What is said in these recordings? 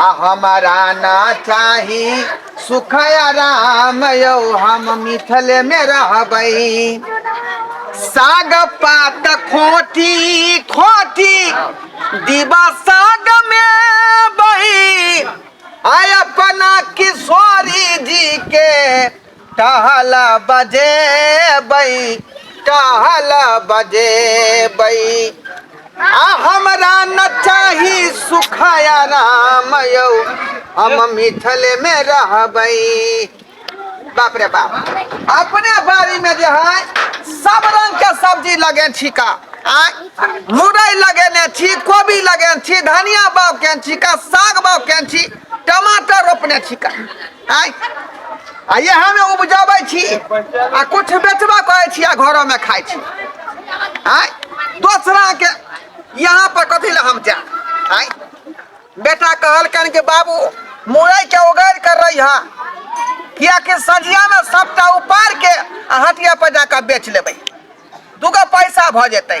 आ हमारा ना चाही सुख आराम यौ हम मिथल में रहबै साग पात खोटी खोटी दिबा साग में बही आय अपना किशोरी जी के टहल बजेबै टहल बजेबै आ हमरा न चाही सुख आराम यौ हम मिथल में रहबै बाप रे बाप अपने बाड़ी में जे है सब रंग के सब्जी लगे छी का आय मुरई लगेने छी कोबी लगेने छी धनिया बाग केने छी का साग बाग केने छी टमाटर रोपने छी का आय आ इएह हमे उपजाबै छी आ कुछ बेचबा करै छी आ घरो में खाइ छी आय दोसरा के यहाँ पर कथी लए हम जाए आय बेटा कहलकन कि बाबू मुरई के उगैर कर रही है कियाकि सजिया में सबटा उपार के आ हटिया पर जाकर बेच लेबै दूगो पैसा भऽ जेतै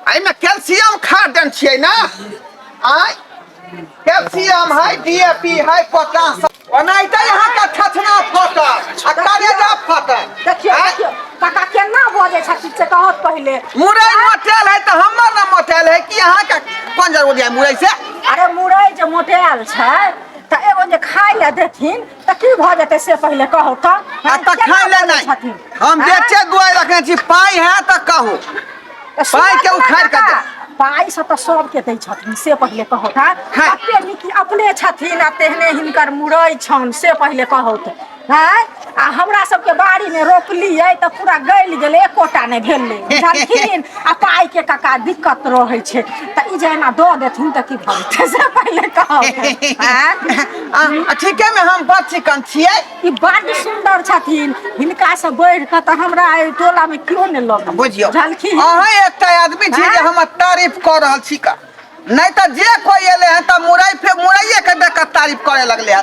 एहिमे कैल्शियम खाद देन छियै ने आय कैल्शियम है डीएपी है पोटास ओनाहिते अहाँके थथना फटल आ करेजा फटल देखियौ आँय? देखियौ काका केना बजै छथिन से कहत पहिले मुरई मोटेल है तऽ हमर ने मोटेल है कि अहाँके कोन जरूरी है मुरई से अरे मुरई जे मोटायल छै तऽ एगो जे खाय लए देथिन तऽ की भऽ जेतै से पहिले कहू तऽ आ हैं, तखन केना ले बोलै नहि छथिन? हम हैं? बेचे दुआर रखने छी पाइ है तऽ कहू तऽ सुनऽ पाइ के तऽ उखाड़ कऽ दे। लड़का, पाइ से तऽ सबके दै छथिन से पहिले कहू तऽ हैं। कते नीक अपने छथिन आ तेहने हिनकर मुड़ै छनि से पहिले कहू तऽ हैं आ हमरा सबके बाड़ी में रोपलियै तऽ पूरा गलि गेलै एकोटा नहि भेलै बुझलखिन आ पाइ के काका दिक्कत रहै छै तऽ ई जे एना दऽ देथिन तऽ की भऽ जेतै से पहिले कहब आँय? आ आ ठीके में हम बड़ चिकन छियै ई बड्ड सुन्दर छथिन हिनका से बढ़ि कऽ तऽ हमरा एहि टोला मे केओ नहि लग बुझियौ झलखी अहाँ एकटा आदमी छी जे आँय? हमर तारीफ कऽ रहल छी का नहीं तो जे कोई एले हैं तो मुरई फे मुरैये के देख के तारीफ करे लगले हैं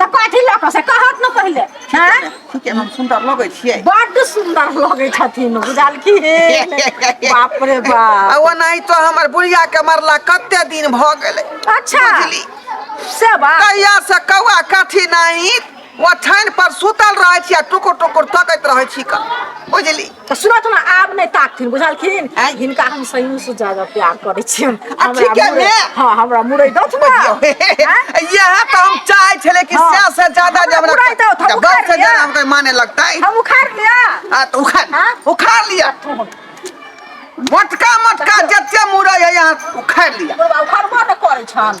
तऽ कथी लऽ कऽ से कहत ने पहिले हैं ठीके हम सुन्दर लगै छियै बड्ड सुन्दर लगै छथिन बुझल की बाप रे आ बाप ओनाही तो हमर बुढ़िया के मरला कते दिन भऽ गेलै अच्छा बुझली। से बात कहिया से कौआ काठी नाही ओछाइन पर सुतल रहै छी आ टुकुर टुकुर तकैत रहै छी कऽ बुझली तऽ सुनत ने आब नहि ताकथिन बुझलखिन आँय? हिनका हम सही से ज्यादा प्यार करै छियन आ ठीके ने? हां हमरा मुरै दत ना यह तो हम चाहे छले कि हाँ। सौ से ज्यादा जब हमरा पूरा एकदम, हम जब उखाड़ से लिया। ज्यादा हमको माने लगता है हम उखाड़ लिया आ तो उखाड़ हाँ? उखाड़ लिया मोटका मोटका जते मुड़े है यहाँ उखाड़ लिया बुढ़वा उखाड़बो ने करै छन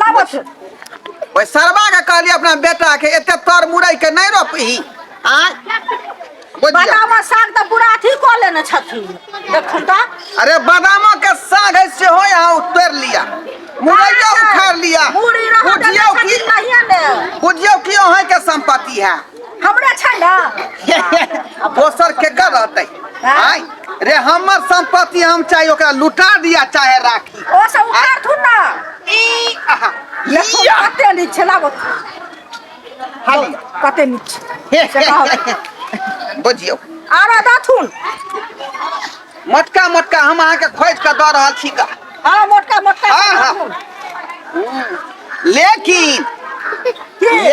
लाबो छै ओइ सरबा के कहली अपना बेटा के एते तर मुरई के नहीं रोपही आय बुझिया बादामा साग तऽ पूरा अथी कऽ लेने छथिन देखन तऽ अरे बादामो के साग है सेहो यहाँ उतर लिया मुरैया उखाड़ लिया मुड़ी रह बुझियो की छथिन कहिया ने बुझियो की अहाँ के संपत्ति है हमरा छै ने दोसर के कर रहते आय रे हमर संपत्ति हम चाहे ओकरा लुटा दिया चाहे राख ओ सब उतार थु ना ई आहा लखो या कते नी छला बत हाली कते नी हे से कहो बुझियो आरा दाथुन मोटका मोटका हम अहाँके खोज कऽ दऽ रहल छी का हां मोटका मोटका हाँ, हाँ। दाथुन लेकिन के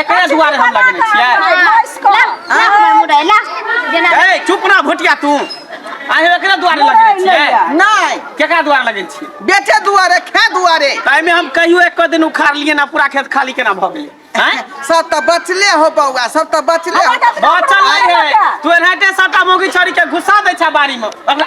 एकरे दुआरे हम लगेने छियै ए चुप ना भोटिया तू अहीं एकरे दुआरे लगेने छियै नहीं केकरा दुआरे लगेने छियै बेटे दुआरे खे दुआरे ताहिमे हम कहियो एक दिन उखाड़ लिए ना पूरा खेत खाली केना भऽ गेलै हैं सब तो बचले हो बउआ सब तो बचले हो बचल नहीं है तू एनाहिते सटा मोगी छोड़ी के घुसा दै छै बाड़ी में ओकरा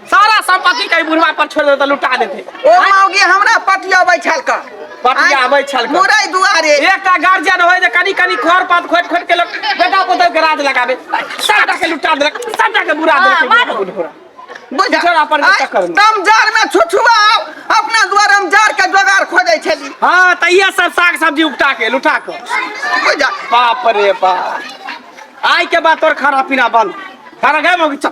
सारा संपत्ति के बुढ़वा पर छोड़ देते लुटा देते ओ मौगी हमरा पटिया बैठल का पटिया बैठल का। मुरई दुआरे एकटा गार्जियन होय जे कनी कनी खर पात खोट खोट के लोग बेटा पुतौ के राज लगाबे सबटा के लुटा देलक सबटा के बुरा हाँ, मार। देलक बुढ़वा बुझल छोड़ा पर के चक्कर में। तम जार में छुछुआ अपना द्वार हम जार के जोगार खोजे छली हां त इहे सब साग सब्जी उपटा के लुटा के बुझल बाप रे बाप आय के बाद तोर खाना पीना बंद खाना गए मौगी चल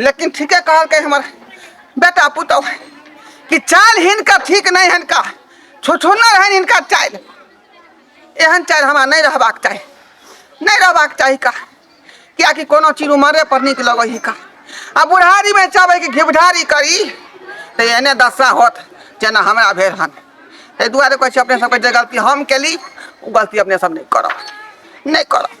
लेकिन ठीके कहलकै हमर बेटा पुतौ कि चाल हिनका ठीक नहि हिनका छुछुन्ना रहनि हिनका चाल एहन चाल हमरा नहि रहबाक चाही नहि रहबाक चाही का कियाकि कोनो चीज उमरे पर नीक लगै ही का आ बुढ़ारी में चाहबै कि घिबढारी करी तऽ एहने दशा होत जेना हमरा भेल हन ताहि दुआरे कहै छी अपने सबके जे गलती हम केली ओ गलती अपने सब नहि करब नहि करब